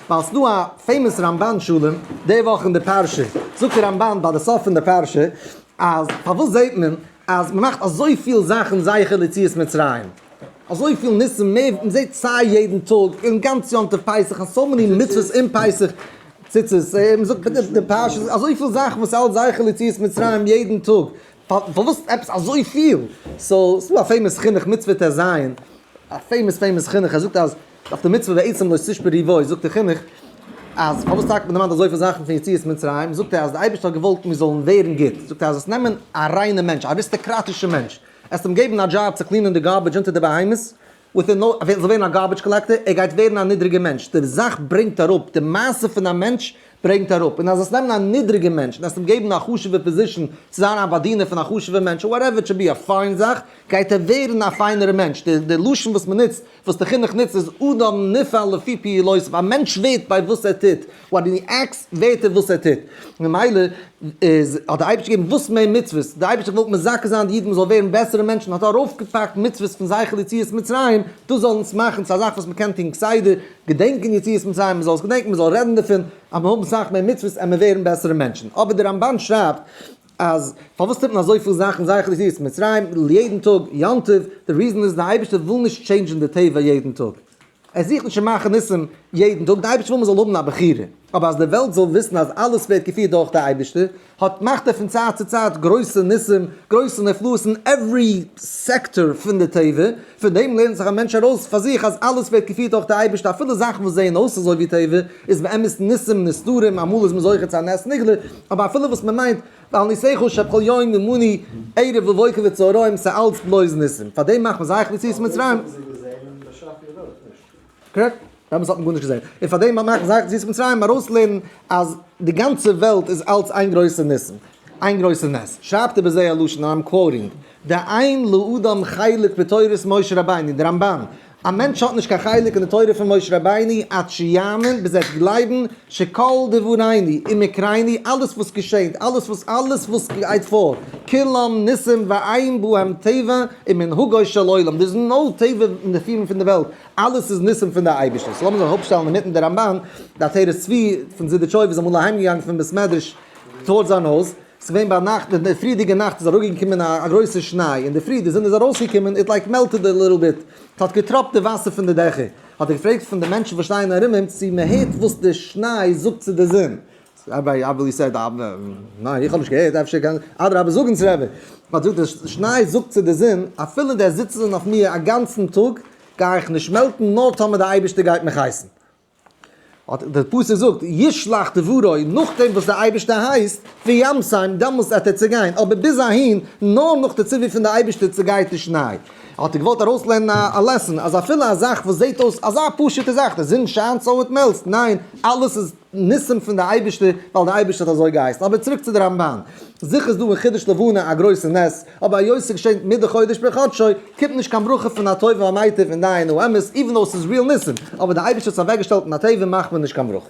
ווייל ס'דא א פעימאס רמבן שלום די וואך אין די פרשה, זאגט דער רמבן ביי די סוף פון די פרשה אז פארוואס זעט מען אז מ'מאכט אזויפיל זאכן זכר ליציאת מצרים, אזויפיל ניסים מער, מ'זעט סיי יעדן טאג און גאנץ יום טוב פסח און סאו מעני מצוות אום פסח, ציצית, מ'זאגט אין די פרשה אזויפיל זאכן וואס האלט זכר ליציאת מצרים יעדן טאג, פארוואס עפעס אזויפיל, סאו ס'דא א פעימאס חינוך מצוה טז, א פעימאס פעימאס חינוך ער זאגט אז אויף די מצוה ועצם לא תשבר ריבו זאגט דער חינוך אז פארוואס טאקע מען דערמאנט אזויפיל זאכן פון יציאת מצרים זאגט ער אז דער אייבערשטער האט געוואלט מיר זאלן ווערן גוט זאגט ער אז עס נעמען א ריינע מענטש א אריסטאקראטישע מענטש עס אים געבן א דזשאב צו קלינען די גארבעדזש אונטער די בהמות וויטין נאו ער זאל ווערן א גארבעדזש קאלעקטער ער גייט ווערן א נידריגע מענטש די זאך ברענגט אראפ די מעשה פון א מענטש ברענגט אראפ און אז עס נעמען א נידריגע מענטש און עס אים געבן א חשובע פאזישן צו זיין א באדינער פון א חשובע מענטש וואטעווער איט טשען בי א פיין זאך גייט ער ווערן א פיינערע מענטש די לשון וואס מען נוצט וואס די חינוך נוצט איז אדם נפעל לפי פעילותיו, א מענטש ווערט ביי וואס ער טוט, וואט הי עקטס, ווערט ער וואס ער טוט, ממילא איז, האט דער אייבערשטער געגעבן וואס מער מצוות, דער אייבערשטער האט געוואלט מזכה זיין די אידן מ'זאל ווערן בעסערע מענטשן, האט ער ארויפגעפאקט מצוות פון זכר ליציאת מצרים, דאס זאל אונז מאכן צו א זאך וואס מ'קען טון כסדר, געדענקען יציאת מצרים, מ'זאל עס געדענקען, מ'זאל רעדן דערפון, אז מיר האבן סאך מער מצוות עמער ווערן בעסערע מענטשן, אבער דער רמבן שרייבט, אז פארוואס טוט מען אזויפיל זאכן זייער חסידות מצרים ליעדן טאג יום טוב, די ריזען איז די אייבערשטער וויל נישט טשעינדזשען די טבע יעדן טאג, ער זוכט נישט צו מאכן ניסים יעדן טאג, די אייבערשטער וויל מען זאל האבן א בחירה, אבער אז די וועלט זאל וויסן אז אלעס ווערט געפירט דורך די אייבערשטער, האט מאכט ער פון צייט צו צייט גרויסע ניסים גרויסע נפלאות אין עווערי סעקטאר פון די טבע, פון דעם לערנט זיך א מענטש ארויס פאר זיך אז אלעס ווערט געפירט דורך די אייבערשטער אפילו זאכן וואס זעען אויס אזוי ווי טבע, איז באמת ניסים נסתרים, אמאל איז מען זוכה צו א נס נגלה, אבער אפילו וואס מען מיינט ואל ניסיך שכל יום ומני ערב ובוקר וצהריים ס'איז אלץ בלויז ניסים, פאר דעם מאכט מען זייער חוץ יציאת מצרים. קרעקט. באמת האט מען גארנישט געזען. און פאר דעם מאכט מען זייער חוץ יציאת מצרים ארויס לערנען אז די גאנצע וועלט איז אלץ איין גרויסע ניסים. איין גרויסע נס. שרייבט איבער זיי א לשון אנד איים קוואוטינג, די עין לאדם חלק בתורת משה רבינו, די רמבן. א מענטש האט נישט קיין חלק אין די תורה פון משה רבינו עד שיאמין ביז ער וועט גלייבן שכל דברינו ומקרינו אלעס וואס געשענט אלעס וואס אלעס וואס גייט פאר כולם ניסים ואין בהם טבע ומנהגו של עולם דער איז נאו טבע נסיון פון די וועלט אלעס איז ניסים פון די אייבערשטער סאו לאמיר זיך אראפשטעלן אינמיטן די רמבן די עטרת צבי פון זידיטשויב איז אמאל אהיימגעגאנגען פון בית מדרש טאווארדס זיין הויז. ס'איז געווען ביינאכט, אין די פריערדיגע נאכט איז אראפגעקומען א גרויסע שניי, אין די פרי די זון איז ארויסגעקומען איט לייק מעלטעד א ליטל ביט, ס'האט געטראפט די וואסער פון די דעכער, האט ער געפרעגט פון די מענטשן וואס שטייען ארום אים צו מען הערט וואס די שניי זאגט צו די זון, ראביי אוואו יו סעד אוו ניין איך האב נישט געהערט אפשר קען אדרבה זאג אונז רבי, האט געזאגט די שניי זאגט צו די זון אפילו די זיצן אויף מיר אגאנצן טאג גיי איך נישט מעלטן נאר טאמער די אייבערשטער גייט מיך הייסן. אט דער פסוק זאגט ישלח דברו, נאכדעם וואס דער אייבערשטער הייסט, וימסרם, דעמאלסט וועט ער צעגיין, אבער ביז אהין, נאר נאך די ציווי פון דער אייבערשטער צעגייט די שניי. האט ער געוואלט ארויסלערנען א לעסאן, אז אפילו א זאך וואס זעט אויס אזא פשוט'ע זאך, די זון שיינט סאו איט מעלטס, ניין, אלעס איז ניסים פון דער אייבערשטער, ווייל דער אייבערשטער האט אזוי געהייסן. אבער צוריק צו די רמבן, זיכער איז דא אין חידוש לבנה א גרויסע נס, אבער היות ס'איז געשען מדי חודש בחדשו, קומט נישט קיין ברכה פון הטוב והמיטיב אין דיין האמת, איווען דאו ס'איז ריעל ניסים, אבער די אייבערשטער האט עס אוועקגעשטעלט אין הטבע מאכט מען נישט קיין ברכה.